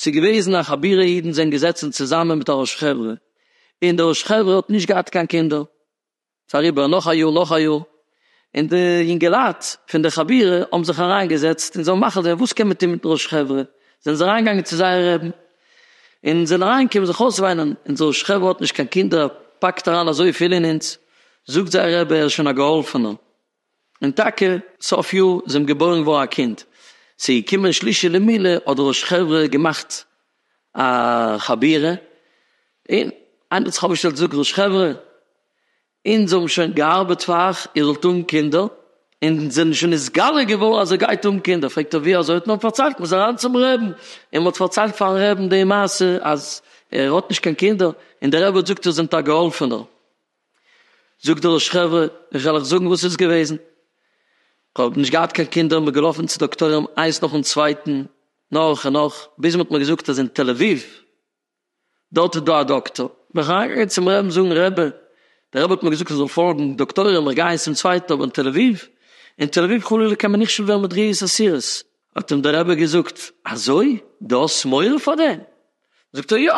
ס'איז געוועזן א חבורה אידן זענען געזעצן צוזאמען מיט א ראש חברה און די ראש חברה האט נישט געהאט קיין קינדער ס'איז אריבער נאך א יאר נאך א יאר און די יונגעלייט פון די חבורה האבן זיך אריינגעזעצט און זיי האבן מחליט געווען וואס קען מען טון מיטן ראש חברה זענען זיי אריינגעגאנגען צו זייער רעבן. אונז זענען אריין קומען זיך אויסוויינען אין זאל שכב האט נישט קיין קינדער פאקט אריין אזוי פיל אין אונז זאגט זייער רבי ער איז שוין א געהאלפענער און טאקע סוף יאר איז אים געבוירן געווארן א קינד צו קומען שלישי למילה האט ר' שכב'רע געמאכט א חבירה און איינער האט זיך אויפגעשטעלט געזאגט ר' שכב'רע אונז האבן שוין געארבעט פאר אייך, איר זאלט האבן קינדער, און זענען שוין נתגלה געווארן אז איר גייט האבן קינדער, פרעגט ער ווי אזוי, האט מען פארציילט, מ'איז אריין צום רעבן, און מ'האט פארציילט פארן רעבן די מעשה אז ער האט נישט קיין קינדער, און דער רבי האט געזאגט איר זענט א געהאלפענער, זאגט דער ראש חברה, איך וועל אייך זאגן וואס איז געוועזן, כ'האב נישט געהאט קיין קינדער, מ'איז געלאפן צו דאקטוירים איינס נאכן צווייטן, נאך און נאך, ביז מ'האט מיר געזאגט אז אין תל אביב, דארט איז דא א דאקטאר, בין איך אריינגעגאנגען צום רעבן זאגן רעבע, דער רעבע האט מיר געזאגט איך זאל פארגן דאקטוירים, איך גיי צום צווייטן אבער אין תל אביב, אין תל אביב חלילה קען מען נכשל ווערן מיט ריאות אסירות. האט אים דער רבי געזאגט, אזוי? דו האסט מורא פאר דעם? זאגט ער, יא,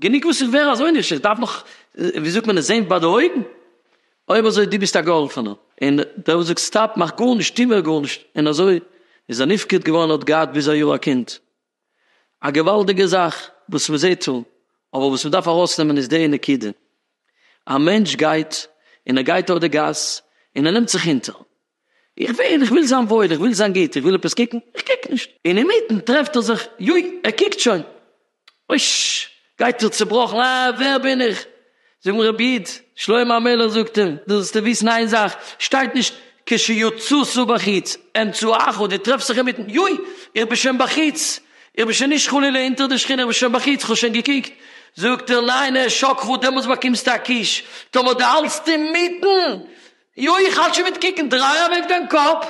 גענוג וואס איך ווער אזוי נכשל, איך דארף נאך, ווי זאגט מען עס, זען ביי די אויגן? אויב אזוי, דו ביסט א געהאלפענער. און דער רבי זאגט, סטאפ, מאך גארנישט, טו מער גארנישט, און אזוי איז ער נפקד געווארן, ער האט געהאט ביז א יאר א קינד. א געוואלדיגע זאך וואס מען זעט דא, אבער וואס מען דארף ארויסנעמען איז די נקודה, א מענטש גייט און ער גייט אויף די גאס און ער נעמט זיך אונטער, איך וועל, איך וויל זיין וואויל, איך וויל זיין גוט, איך וויל עפעס קוקן, איך קוק נישט, און אינמיטן טרעפט ער זיך, יוי, ער קוקט שוין, אויש, גייט ער צעבראכן, אה, ווער בין איך? זאג מיר רבי איד, שלמה המלך זאגט אים, דו זאלסטו וויסן איין זאך, שטייט נישט כשיצוצו בחוץ, אמצו אחו, דו טרעפסט זיך אינמיטן, יוי, איך בין שוין בחוץ, איך בין שוין נישט חלילה אונטער די שכינה, איך בין שוין בחוץ, איך האב שוין געקוקט, זאגט ער, ניין, העשק ח, דעמאלטס באקומסטו א קיש, טאמער דו האלטסט אינמיטן, יוי איך האלט שוין מיט קוקן, דריי אוועק דיין קאפ,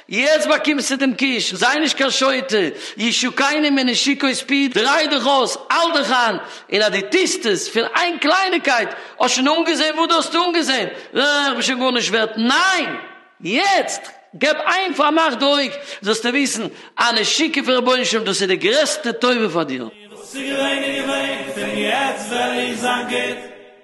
יעצט באקומסטו דעם קיש, זיי נישט קיין שוטה, ישו קיינעם איז נישט שיק אויס פיאות, דריי דיך אויס, האלט דיך איין, און אז דו טוסט עס פון איין קלייניקייט, האסט שוין אנגעזען וואס דו האסט אנגעזען, אה איך בין שוין גארנישט ווערט, ניין! יעצט געב איין פארמאך די אויג, זאלסטו וויסן אז נשיקה פון רבונו של עולם דאס איז די גרעסטע טובה פאר דיר. וואס ס'איז געווען איז געווען, פון יעצט וועל איך זיין גוט.